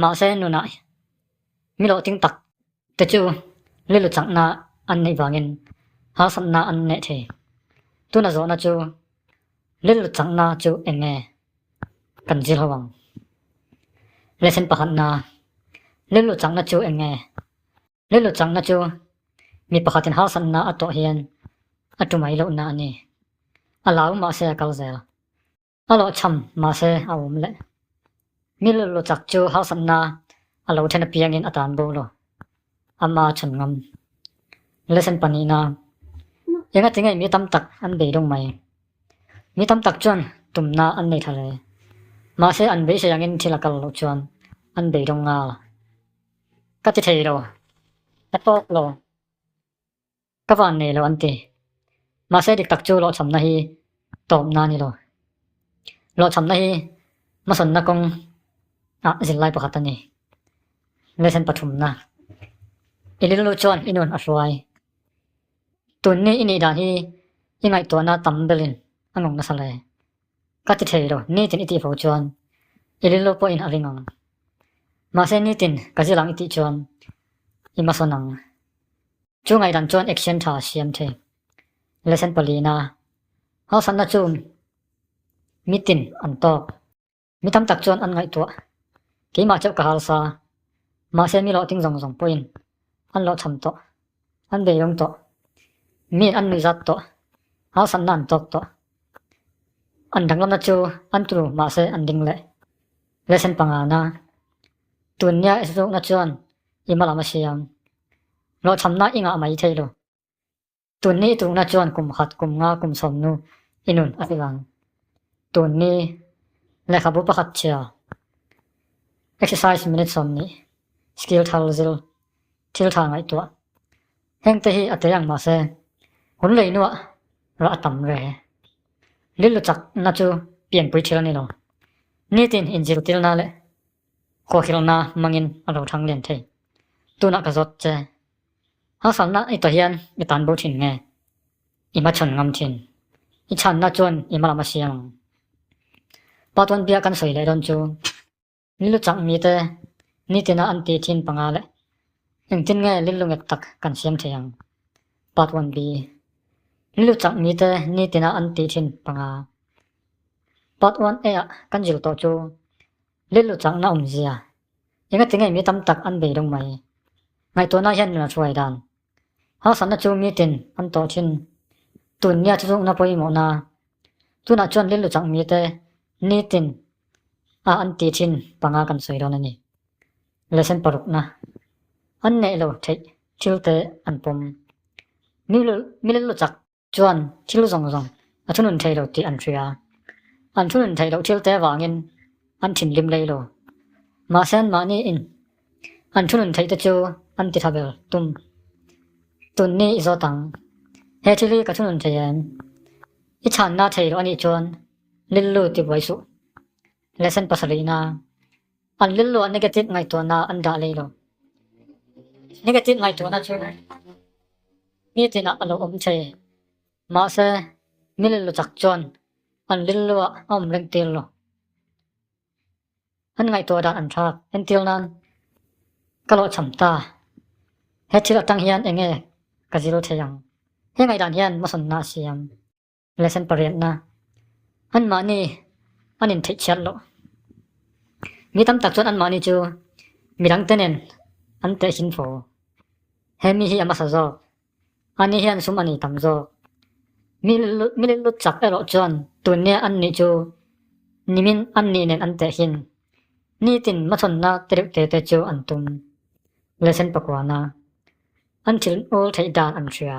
Mahse nuna miloting tak te chu lilu changna an neih vangin harsatna an neh thei. Tuna zawhna chu lilu changna chu eng nge kan zir ho ang? Lesson pakhatna, Lilu changna chu eng nge? Lilu changna chu mi pakhatin harsatna a tawh hian a tumai lohna a ni. A lau mahse a kal zel. A lawh chham mahse a awm leh. Mil lu chak chu harsatna a lo then apiangin a tan bo lo. Ama chhun ngam. Lesson panihna, Enga ti nge mi tam tak an bei dawng mai? Mi tam tak chuan tumna an nei tha hle. Mahse an beisei angin thil a kal loh chuan an bei dawng ngal. Ka ti thei lo. Ka tawk lo. Ka van nei lo an ti. Mahse dik tak chu lawhchhamna hi tawpna a ni lo. Lawhchhamna hi hmasawnna kawng ah zir lai pakhat a ni. Lesson pathumna. I lil lut chuan i nun a hruai. Tun ni i nih dan hi i ngaihtuahna tam belin a ngawk nasa le. Ka ti thei lo, nitin i tih fo chuan i lil lo pawhin a ring ang. Mahse nitin ka zil ang i tih chuan i hmasawn ang. Chu ngaih dan chuan action tha a siam thei. Lesson paliina hausatna chu mitin an tawk. Mi tam tak chuan an ngaihtuah. Keimah chauh ka hal sa, mahse mi lawhting zawng zawng pawhin an lawhchham tawh. An bei rum tawh. Mi an nui zat tawh. Harsatna an tawk tawh. An danglamna chu an tu mahse an ding leh. Lesson panga na. Tun nia isrukna chuan i hma lam a siam. Hlawhthamna i ngah mai thei lo. Tun ni i tukna chuan kum khat, kum nga, kum sawmnu i nun a ti vang. Tun ni, lehkhabu pakhat chhia. Exercise minute sawmnih, skill thar zil. Thil tha ngaihtuah heng te hi a te ang mahse, hun lei nuah rah a tam ve. Lillu chak na chu pianpui thil a ni lo. Nitin in zirtir na leh huahil na hmangin a lo thang lian thei. Tunah ka zawt che. Harsatna i ta hian i tan bo thin nge? I hma chhan ngam thin. I chhan na chuan i hma lam a siam ang. Patuanbia kan sawi leh dawn chu. Milu chang mite nitina an ti thin panga leh engtin nge lil lu ngek tak kan siam thei ang? Part one B Milu chang mite nitina an ti thin panga Part one A ah kan zir tawh chu lil lu changna awmzia engatinge mi tam tak an bei deuh mai. Ngaihtuahna hian nula hruai dan Harsatna chu mi tin an tawh thin. Tun nia thu zungna pawimawhna. Tunah chuan rilru chang mite ni tin a an ti thin panga kan sawi dawn a ni. Lehsem parukna, an neih lo theih thil te an pawm. Mi rilru chak. chuan thil zawng zawng a thunun thei lo tih an hria a, an thunun thei loh thil te avangin an thinlim lei lo. Mahse anmahni in an thunun theite chu an ti tha ber tum. Tunni i zawt ang, he thil hi ka thunun thei em? I chhanna thei loh anih chuan lillu ti buai suh. Lesson pasarihna. An lil luah negative ngaihtuahna an dah lei lo. Negative ngaihtuahna chu mi tinah a lo awm che. Mahse, mil lu chak chuan an lil luah a awm reng tir lo. An ngaihtuah dan an thlak. Entir nan ka lo cham ta. He thil atang hian enge ka zir thei ang. He ngaihdan hian masawnna a siam. Lesson pariatna, Anmahni an intheihthial loh. Mi tam tak chuan anmahni chu midang te nen an teh hlim fo. He mi hi a hmasa zawk. A ni hian sum a ni tam zawk. Mi lillut, mi lillut chak erawh chuan tun nia an nih chu nimin an nih nen an teh hlim. Nitin hmachhawnna te reuh te te chu an tum. Lesson pakuana, An thil ul theih dan an hria.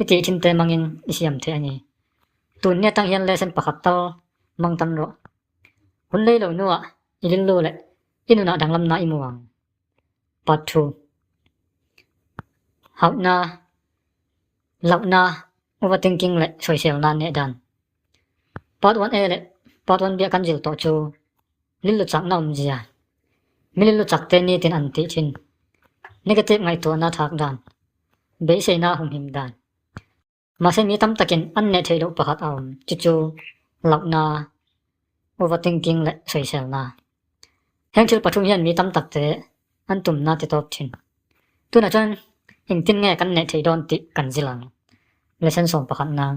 I tih thim te mangin i siam theih a ni. Tun ni atang hian lesson pakhat tal mang tan rawh. Hun lei lo nuah i lillu leh i nunah danglamna i mu ang. Part Two Hauhna, hlauhna, overthinking leh sawiselna neh dan. Part one A leh Part one B-a kan zir tawh chu lillu chakna awmzia milillu chakte nitin an tih thin, negative ngaihtuahna thak dan, beiseina a humhim dan. Mahse mi tam takin an neh theih loh pakhat a awm, chu chu lauhna, overthinking leh sawiselna. Heng thil pathum hian mi tam takte an tumna ti tawp thin. Tunah chuan engtin nge kan neh theih dawn tih kan zil ang, lesson sawm pakhat nang.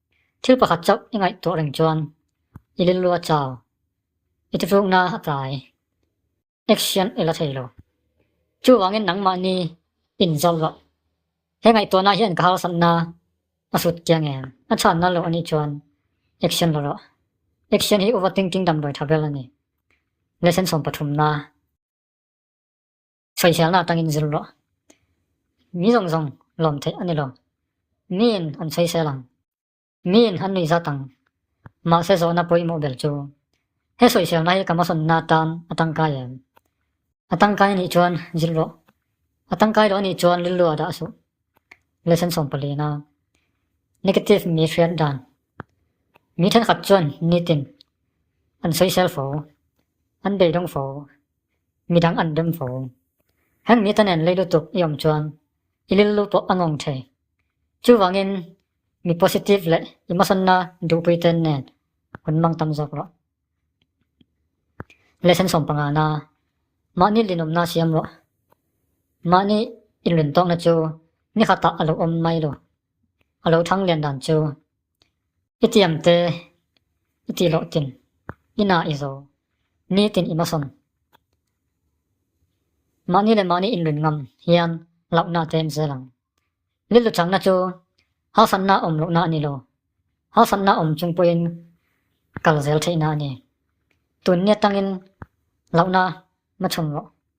Thil pakhat chauh i ngaihtuah reng chuan i lilluah chau, i titrukna a tlai, action i la thei lo. Chuvangin nangmah ni in zau loh. He ngaihtuahna hian ka harsatna a sut kiang em? A chhanna loh a nih chuan action la rawh. Action hi overthinking damdawi tha ber a ni. Lesson sawmpathumna. Sawifialna atangin zir rawh. Mi zawng zawng lawm theih a ni lo. Miin an sawi sel ang. Miin an nui zat ang. Mahse zawhna pawimawh ber chu he sawifialna hi ka hmasawnna atan a tangkai em? A tangkai a nih chuan zir rawh. A tangkai lo a nih chuan rilru a dah suh. Lesson sawmpalina, Negative mi hriat dan. Mi thenkhat chuan nitin an sawi sel fo, an beidawng fo, midang an rem fo. Heng mi te nen lei lutuk i awm chuan i lillu pawh a ngawng thei. Chuvangin mi positive leh emotionna duhpui te nen hun mang tam zawk rawh. Lesson sawm panga na, mahni linawmna siam rawh. Mahni inrin tawkna chu ni khatah a lo awm mai lo. A lo thang lian dan chu I ti ang te, i ti loh tin, i na i zo, ni tin i hmasawn. Mahni leh mahni inrin ngam hian hlauhna te an zel ang. Lillu changna chu hasanna awm lohna a ni lo, hasanna awm chung pawhin kal zel theihna a ni. Tun ni atangin hlauhna hma chhun rawh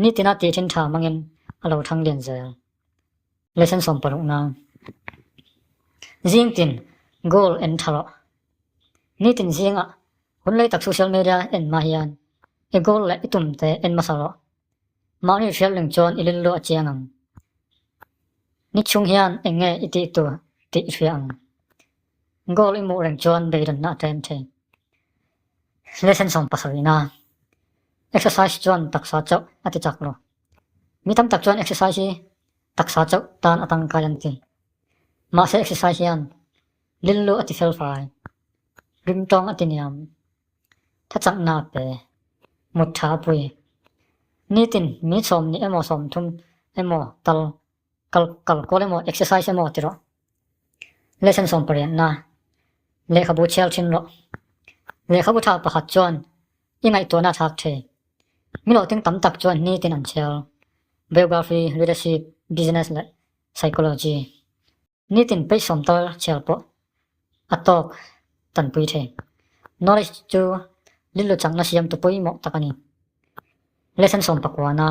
Nitina tih thin tha hmangin a lo thang lian zel. Lesson sawm paruk na. Zing tin goal en tha rawh. Nitin zinga hun lei tak social media en hma hian i goal leh i tum te en hmasa rawh. Mahni hrialring chuan i lillu a chiang ang. Nichhung hian eng nge i tih tur tih i hria ang. Goal i muh reng chuan beirawnna a tlem thin. Lesson sawm pasal ina, Exercise chuan taksa chauh a ti chak lo. Mi tam tak chuan exercise hi taksa chauh tan a tangkai an ti. Mahse exercise hian lillu a ti fel fai, rim tawng a ti niam, thachakna a pe, mut tha a pui. Nitin mi sawm nih emaw sawm thum emaw tal Kal kal kual emaw exercise emaw ti rawh. Lesson sawm pariat na. Lehkhabu chhial thin rawh. Lehkhabu thak pakhat chuan i ngaihtuahna thak thei. Milo ting tam tak chuan ni tin an chhial. Biography, leadership, business leh psychology. Nitin paih sawm tar chhial pawh a tawk tanpui the. Knowledge chu lillu changna siamtu pawimawh tak a ni. Lesson sawm pakuana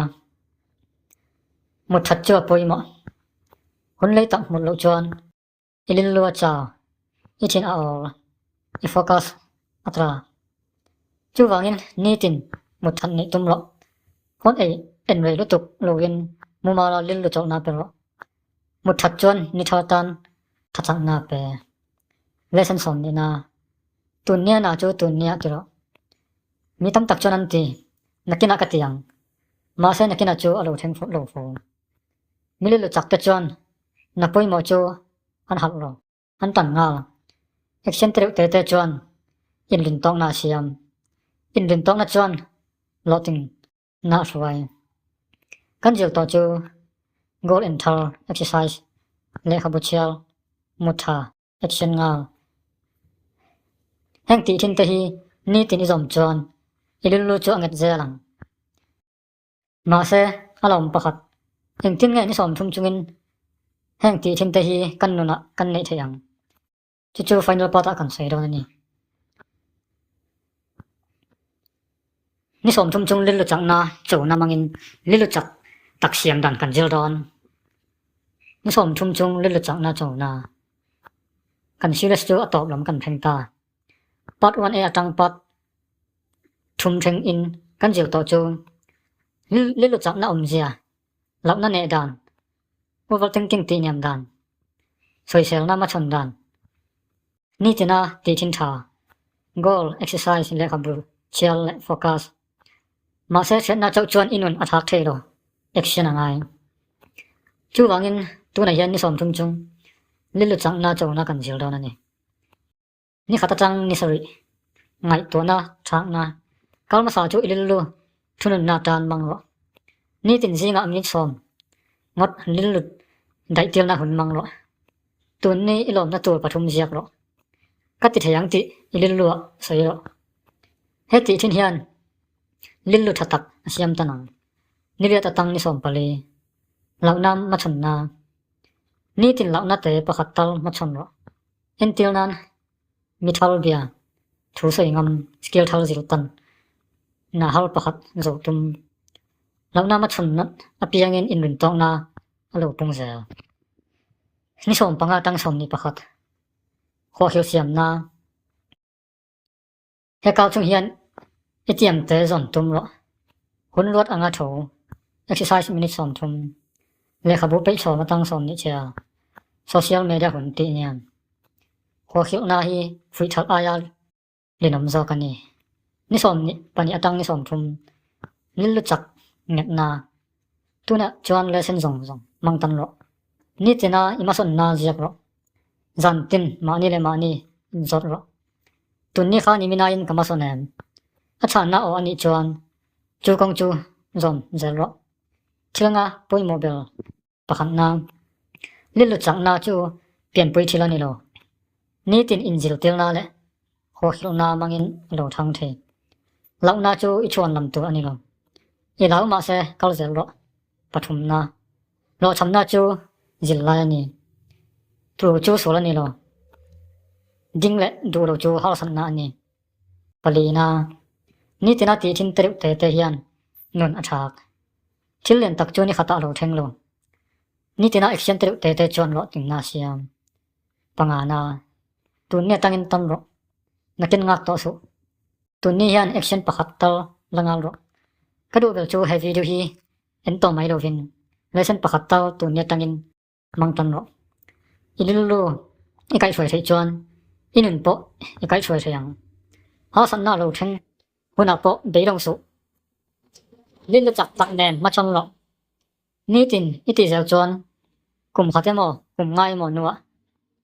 mutthat chu a pawimawh. Hunlei tak hmuh loh chuan i lillu a chau, i thin a awl, i focus a tra. Chuvangin nitin mutthat neih tum rawh. Hawn ei en rei lutuk loin mumala lillu chauhna pe rawh. Hmu that chuan ni thar tan tha chakna pe lesson sawn ni na. Tun nia na chu tun nia ti rawh. Mi tam tak chuan an ti, nakina ka ti ang. Mahse nakina chu a lo thleng fawt lo fo. Mili luchak te chuan na pawimawh chu an halh lo. An tan nghal. Action te reuh te te chuan inrin tawkna a siam. Inrin tawkna chuan lawtin Hnah hruai. Kan zir tawh chu goal en thar, exercise, lehkhabu chhiar, mutha, action ngal. Heng tih thinte hi nitin i zawm chuan i lullu chu a nget zel ang. Mahse, a la awm pakhat, engtin nge ni sawm thum chungin heng tih thinte hi kan nunah kan neih theih ang? Chu chu final part a kan sawi dawn a ni. Ni sawm thum chung lilu chakna chona mangin lilu chak tak siam dan kan zir dawn. Ni sawm thum chung lilu chakna chona kan series chu a tawp lam kan pheng ta. Part 1 e atang part thum theng in kan zir tawh chu lilu chakna awmzia Hlauhna neh dan, overthinking tihniam dan, sawiselna machhawn dan, nitina tihthin tha, goal, exercise, lehkha bul, chhial leh focus. Mahse, hriatna chauh chuan i nun a thlak thei lo, action a ngai. Chuvangin, tunah hian ni sawm thum chung Lilu changna chona kan zir dawn a ni. Ni khat atang ni sarih ngaihtuahna chhakna kalmasa chu i lil lu thununna tan mang rawh. Nitin zinga an ring sawm ngawt an lil lut daihtirna hun mang rawh. Tunni i lawmna tur pathum ziak rawh. Ka ti thei ang tih i lil lu ah sawi rawh. He tih thin hian lil lu tha tak a siam tan ang. Niriat atang ni sawm pali lohna hmachhawnna. Nitin lohna te pakhat tal hmachhawn rawh. En tir nan mi thar bia thu sawi ngam skill thar zir tan na har pakhat zo tum lo na ma chhun na apiang in in rin tawng na a lo pung zel ni som panga tang som ni pakhat khuakhil siam na Hekau chung hian i tiam te zawn tum rawh. Hun luat anga tho, exercise minute sawm thum, lehkhabu peih sawm atang sawm nih che a, social media hun tih nen. Huakhilhna hi fuihchhalh aia linawm zawk a ni. Ni sawm nih pahnih atang ni sawm thum, lil lu chak ngetna, tunah chuan lesson zawng zawng mang tan rawh. Ni tina i masawnna ziak rawh. Zan tin mahni leh mahni zawt rawh. Tun ni kha ni mina in ka hma sawn em? A chhanna aw anih chuan chu kawng chu zawm zel rawh. Thilnga pawimawh ber pakhat na lilut changna chu pianpui thil a ni lo. Nitin inzirtirna leh huahilhna mangin a lo thang thei lohna chu i thuan lam tur a ni lo. I lau mah se kal zel rawh. Pathumna Hlawhthamna chu zil lai a ni. Tu chu sul a ni lo. Ding leh duh lo chu harsatna a ni. Palina, nitina tih thin tereuh te te hian nun a chhak. Thil len tak chu nikhat a lo thleng lo. Nitina action tereuh te te chuan luahtinna a siam. Pangana, tun nge tangin tam rawh. Nakin ngak tawh suh. Tunni hian action pakhat tal la ngal rawh. Ka duhbel chu he video hi En tawh mai lovin lesson pakhat tal tur ni atangin mang tan rawh. I lilulu i kaih hruai theih chuan i nun pawh i kaih hruai thei ang. Harsatna a lo then hunah pawh beilawng suh. Lillu chak tak nen hmachhawn rawh. Nitin i tih zel chuan kum khat emaw kum ngai emaw hnuah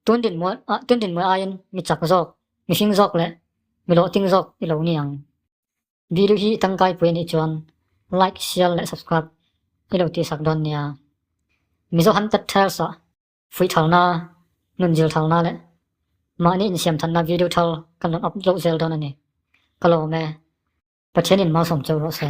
tun dinmual tun dinmual aiin mi chak zawk, mi hring zawk leh mi lawhting zawk i lo ni ang. Video hi tangkai pui anih chuan like share leh subscribe i lo tihsak dawn nia. Mizo han pet thar sa. Fuih thalna, nun zir thalna leh mahni insiamthatna video thal kan rawn up loh zel dawn ani. Ka lawm e. Pathianin mau sawm cho rawh se.